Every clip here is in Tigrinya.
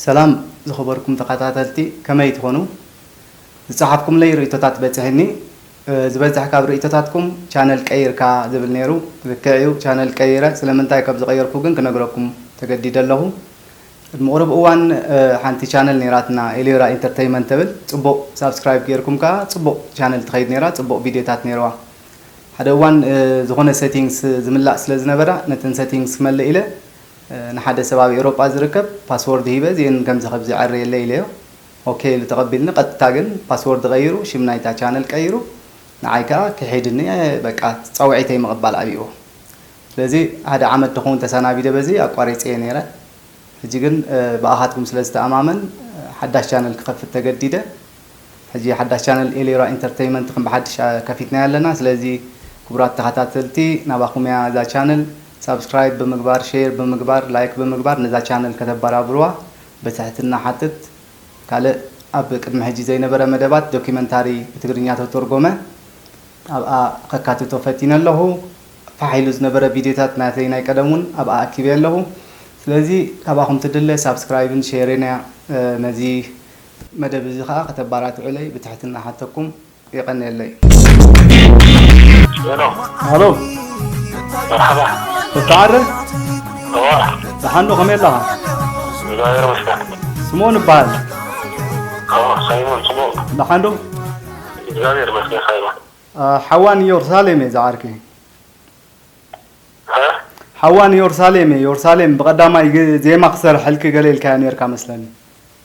ሰላም ዝኸበርኩም ተኸታተልቲ ከመይ ትኾኑ ዝጸሓፍኩምለይ ርእይቶታት በጺሒኒ ዝበዝሕ ካብ ርእይቶታትኩም ቻነል ቀይርካ ዝብል ነይሩ ልክዕ እዩ ቻነል ቀይረ ስለምንታይ ከም ዝቐየርኩ ግን ክነግረኩም ተገዲደ ኣለኹ ቅድሚ ቁሩብ እዋን ሓንቲ ቻነል ነይራትና ኤልዮራ ኢንተርተይመንት ትብል ጽቡቕ ሳብስክራይብ ጌርኩም ከኣ ጽቡቕ ቻነል ትኸይድ ነይራ ጽቡቕ ቪድዮታት ነይርዋ ሓደ እዋን ዝኾነ Settings ዝምላእ ስለ ዝነበራ ነተን Settings ክመልእ ኢለ ንሓደ ሰብ ኣብ ኤውሮጳ ዝርከብ Password ሂበ እዚኤን ከምዚ ከብዚ ዕርየለይ ኢለዮ OK ኢሉ ተቐቢልኒ ቀጥታ ግን Password ቐይሩ ሽም ናይታ Channel ቀይሩ ንዓይ ከኣ ክሒድኒ በቃ ጸውዒተይ ምቕባል ኣብይዎ ስለዚ ሓደ ዓመት ድኸውን ተሳናቢደ በዚ ኣቋሪጸዮ ኔረ ሕጂ ግን ብኣኻትኩም ስለ ዝተኣማመን ሓዳሽ Channel ክኸፍት ተገዲደ ሕጂ ሓዳስ ቻነል ኤሌራ ኢንተርተይመንት ከም ብሓድሽ ከፊትናያ ኣለና ስለዚ ክቡራት ተኻታተልቲ ናባኹም እያ እዛ ቻነል ሳብስክራይብ ብምግባር ሼር ብምግባር ላይክ ብምግባር ነዛ ቻነል ከተባራብሩዋ በትሕትና ሓትት ካልእ ኣብ ቅድሚ ሕጂ ዘይነበረ መደባት ዶኪመንታሪ ብትግርኛ ተተርጎመ ኣብኣ ከካትቶ ፈቲነ ኣለኹ ፋሕ ኢሉ ዝነበረ ቪድዮታት ናተይ ናይ ቀደም ውን ኣብኣ ኣኪበ ኣለኹ ስለዚ ካባኹም ትድለ ሳብስክራይብን ሼርን እያ ነዚ መደብ እዚ ከኣ ከተባራትዑለይ ብትሕትና እሓተኩም። የቀንየለይ። ሄሎ ተስፋዓረ ደሓን ዶ ከመይ ኣለኻ ስምኦን እበሃል ደሓን ዶ ሓዋ ንዮርሳሌም እየ ዝዓርከይ ሓዋ ንዮርሳሌም እየ ዮርሳሌም ብቀዳማይ ዜማ ክሰርሐልኪ ገለ ኢልካያ ኔርካ መስለኒ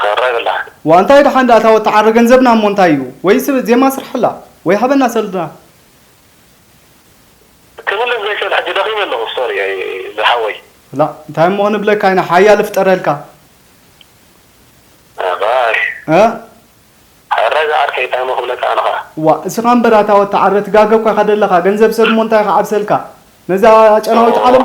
ተወራይ በላ ዋእ እንታይ ዳሓን ዳኣ እታ ወታዓር ገንዘብና እሞ እንታይ እዩ ወይ ስብ ዜማ ስርሐላ ወይ ሃበና ሰልድና። ክምልስ ዘይክእል ሕጂ ደኺመ ኣለኹ ሶሪ ዝሓወይ። ላእ እንታይ እሞ ክንብለካ ኢና ሓያል እፍጠረልካ። እ ሕራይ ዝዓርከይ እንታይ እሞ ክብለካ ኣነ ከኣ። ዋእ እስኻ እምበር ኣታ ወታዓር ትጋገ እኳ ኢኻ ደለኻ ገንዘብ ሰብ እሞ እንታይ ክዓብሰልካ ነዛ ኣጨናዊት ዓለም።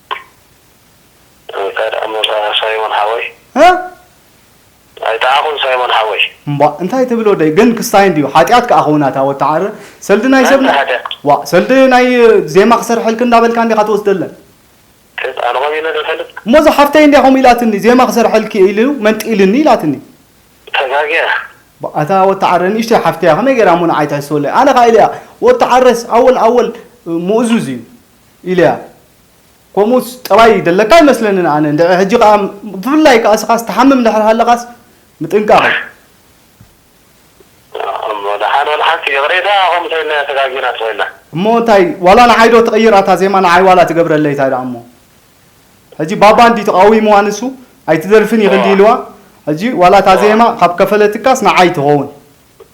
እንታይ ደኣ እሞ ሳይሞን ሓወይ። እ። ኣይተዓኹን ሳይሞን ሓወይ። እምቧእ እንታይ ትብል ወደይ ግን ክስታይ እንድዩ ሓጥያት ከኣ ክውን ኣታ ወተዓረ ሰልዲ ናይ ሰብ ናይ እንታይ ሓጢኣት? ዋእ ሰልዲ ናይ ዜማ ክሰርሐልኪ እንዳበልካ እንዲኻ ትወስደለን። ክት ኣነ ኮን ኢለ ዝፈልጥ። እሞ እዛ ሓፍተይ እንድያ ከምኡ ኢላትኒ ዜማ ክሰርሐልኪ ኢሉ መንጢሉኒ ኢላትኒ። ተጋግያ። ቧእ ኣታ ወተዓረ ንእሽተይ ሓፍተያ ከመይ ጌራ እሞ ንዓይ ትሕስወለይ ኣነ ከኣ ኢለያ ወተዓረስ ኣወል ኣወል ምኡዙዝ እዩ። ኢለያ ኮሙስ ጠባይ ደለካ ኣይመስለንን ኣነ እንድዒ ሕጂ ከኣ ብፍላይ ከኣ ስኻስ ትሓምም ድሕሪ ሃለኻስ ምጥንቃቕ እዩ። እሞ ደሓን ወላ ሓንቲ ይቕሬታ ከምኡ ተይልና ተጋጊና ተኾይና። እሞ እንታይ ዋላ ንዓይ ዶ ትቕይር ኣታ ዜማ ንዓይ ዋላ ትገብረለይ እንታይ ደኣ እሞ ሕጂ ባባ እንድዩ ተቓዊምዋ ንሱ ኣይትደርፍን ኢኺ እንድዩ ኢልዋ ሕጂ ዋላ እታ ዜማ ካብ ከፈለትካስ ንዓይ ትኸውን።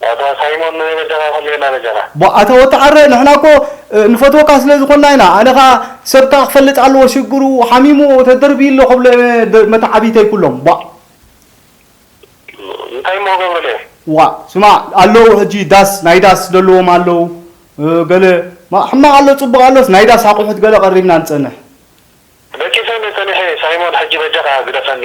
ኣታ ሳይሞን መን በጃኻ ኩሌና በጃኻ። ቧእ ኣታ ወተዓረ ንሕና እኮ ንፈትወካ ስለ ዝኮና ኢና ኣነ ከኣ ሰብካ ክፈልጥ ኣለዎ ሽግሩ ሓሚምዎ ተደርብዩ ኣሎ ክብሎ እየ መተዓብይተይ ኩሎም ቧእ። እንታይ እሞ ክገብረለይ እየ። ዋእ ስማዕ ኣለዉ ሕጂ ዳስ ናይ ዳስ ደለዎም ኣለዉ ገለ ሕማቅ ኣሎ ጽቡቅ ኣሎስ ናይ ዳስ ኣቁሑት ገለ ቀሪብና ንጸንሕ። ደቂሰኒ ጸኒሐ ሳይሞን ሕጂ በጃኻ ግደፈኒ።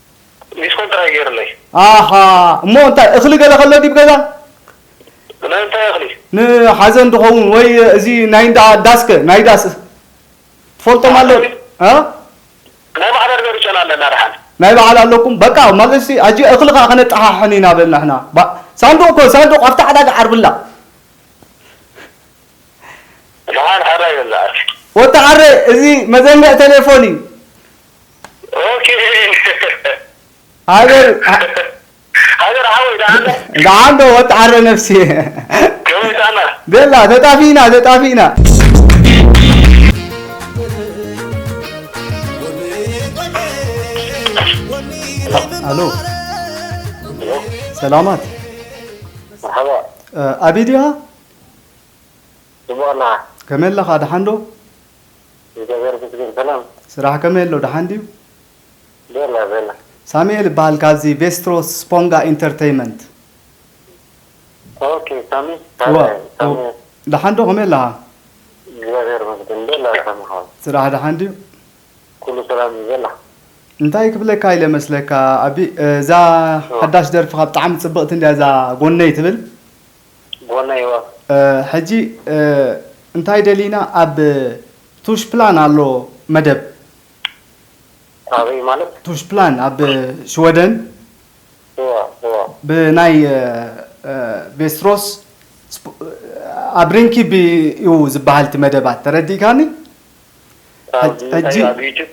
ዲስኮን ጥራይ ገይርለይ። ኣሃ እሞ እንታይ እኽሊ ገለ ከሎ ዲብ ገዛ? ናይ እንታይ እኽሊ? ንሓዘን ድኸውን ወይ እዚ ናይ እንዳ ዳስ ከ ናይ ዳስ ትፈልጦም ኣሎ ዶ? እ? ናይ ባዕልና ንገርጨና ኣለና ደሓን። ናይ በዓል ኣለኩም በቃ ማለትሲ ሕጂ እኽሊ ከኣ ከነጠሓሕን ኢና በል ንሕና ብ ሳንዱቕ ኮን ሳንዱቕ ኣብቲ ዕዳጋ ዓርብላ። ደሓን ሓራይ በል ዝዓርከይ። ወዲ ሓሬ እዚ መዘንግዕ ቴሌፎን እዩ። ሃገር ሓወይ ደሓን ዶ ወዲ ዓረ ነብሲ ከመይ ጥዕና ቤላ ተጣፊእና ተጣፊእና ኣሎ ሰላማት ኣቢ ድያ ድሙቕና። ከመይ ኣለኻ ደሓን ዶ? እግዚኣብሔር ይመስገን ሰላም። ስራሕ ከመይ ኣሎ ደሓን ድዩ? ቤላ ቤላ። ሳሚኤል እባሃል ካብዚ ቬስትሮስ ስፖንጋ ኢንተርተይመንት። ኦኬ ሳሚ እወ ሃላይ እወ ሳሚ ደሓን ዶ ከመይ ኣለኻ? እግዚኣብሔር ይመስገን ቤላ ሳሚ ሓወይ። ስራሕ ደሓን ድዩ? ኩሉ ሰላም እዩ ቤላ። እንታይ ክብለካ ኢለ መስለካ ኣቢ እዛ እወ። ሓዳሽ ደርፍኻ ብጣዕሚ ጽብቕቲ እንድያ እዛ ጎነይ ትብል። ጎነይ ወ። ሕጂ እንታይ ደሊና ኣብ ቱሽፕላን ኣሎ መደብ። ኣበይ ማለት? ቱሽፕላን ኣብ ሽወደን ብናይ ቬስትሮስ ኣብ ሪንኪቢ እዩ ዝባሃል እቲ መደባት ተረዲእካኒ ሕጂ ኣብ ዩቱብ።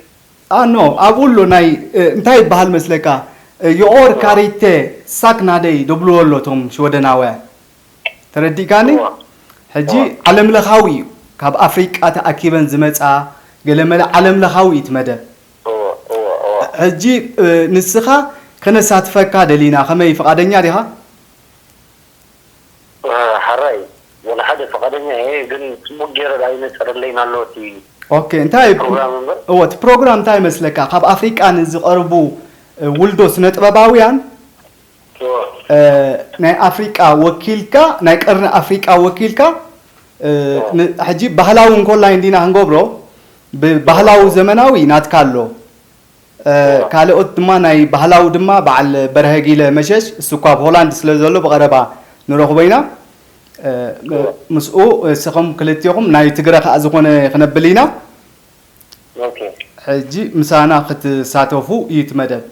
ኣኖ ኣብኡ ኣሎ ናይ እንታይ ይብሃል መስለካ ዮኦር ካሪቴ ሳክ ናደይ ዶብልዎ ኣሎ እቶም ሽወደናውያን ተረዲእካኒ እወ ሕጂ እወ ዓለም ለኻዊ እዩ ካብ ኣፍሪቃ ተኣኪበን ዝመጻ ገለመለ ዓለም ለኻዊ እዩ እቲ መደብ እወ እወ እወ ሕጂ ንስኻ ከነሳትፈካ ደሊና ከመይ ፍቃደኛ ዲኻ? ሐራይ ወላ ሓደ ፍቃደኛ እየ ግን ፅቡቅ ገይረ ዳኣ ይነፀረለይን ኣሎ እቲ ኦኬ እንታይ እዩ ፕሮግራም እምበር እወ እቲ ፕሮግራም እንታይ ይመስለካ ካብ ኣፍሪቃ ንዝቀርቡ ውልዶ ስነጥበባውያን እወ ናይ ኣፍሪቃ ወኪልካ ናይ ቀርኒ ኣፍሪቃ ወኪልካ ን- ሕጂ ባህላዊ እንኮላይ እንዲና ክንገብሮ ብባህላዊ ዘመናዊ ናትካ ኣሎ ካልኦት ድማ ናይ ባህላዊ ድማ በዓል በርሀ ጊለ መሸሽ እሱ እኳ ኣብ ሆላንድ ስለ ዘሎ ብቐረባ ንረኽቦ ኢና ምስኡ እስኹም ክልቴኹም ናይ ትግረ ከኣ ዝኾነ ክነብል ኢና ሕጂ ምሳና ክትሳተፉ እዩ እቲ መደብ።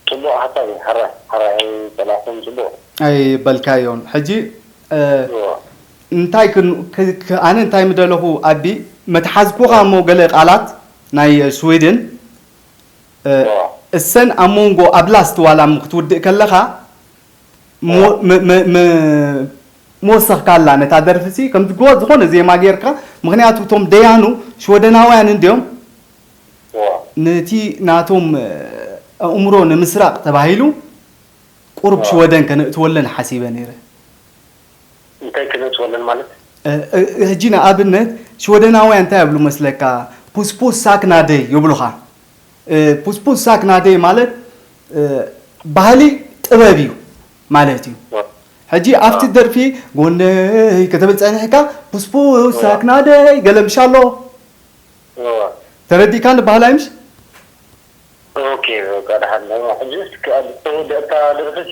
ጽቡቕ ሓሳብ እዩ ሕራይ ሕራይ ኣይጸላእኩን ጽቡቕ እዩ። ኣይበልካዮን ሕጂ እንታይ ኣነ እንታይ ምደለኹ ኣቢ መትሓዝኩኻ እሞ ገለ ቃላት ናይ ስዊድን እሰን ኣብ ሞንጎ ኣብ ላስት ዋላ እሞ ክትውድእ ከለኻ ምወሰኽካላ ነታ ደርፊ ሲ ከም ዝኾነ ዜማ ጌርካ ምኽንያቱ እቶም ደያኑ ሽወደናውያን እንድዮም ነቲ ናቶም ኣእምሮ ንምስራቕ ተባሂሉ ቁሩብ ሽወደን ከነእትወለን ሓሲበ ኔረ። እንታይ ክነጽጎ ኣለና ማለት? ሕጂ ንኣብነት ሽወደናውያን እንታይ ይብሉ መስለካ ፑስፑስ ሳክ ናደይ ይብሉኻ ፑስፑስ ሳክ ናደይ ማለት ባህሊ ጥበብ እዩ ማለት እዩ ሕጂ ኣብቲ ደርፊ ጎነይ ክትብል ጸኒሕካ ፑስፑስ ሳክ ናደይ ገለ ምሽ ኣሎ ተረዲእካኒ ባህላይ ምሽ ኦኬ በቃ ደሓን ሕጂ እስኪ ኣብ ዝተወደእታ ደርፊ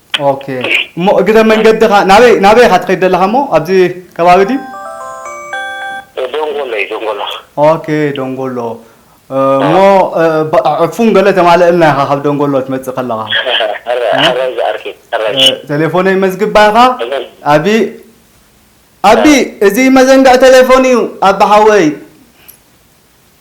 ኦኬ እሞ እግረ መንገድኻ ናበይ ናበይ ኢኻ ትኸይድ ዘለኻ እሞ ኣብዚ ከባቢ ድዩ? ደንጎሎ እዩ ደንጎሎ። ኦኬ ደንጎሎ እሞ ዕፉን ገለ ተማልእልና ኢኻ ካብ ደንጎሎ ትመጽእ ከለኻ። ሕራይ ዝኣርኪ ሕራይ። ቴሌፎነይ መዝግባ ኢኻ ኣቢ ኣቢ እዚ መዘንግዕ ቴሌፎን እዩ ኣቢ ሓወይ።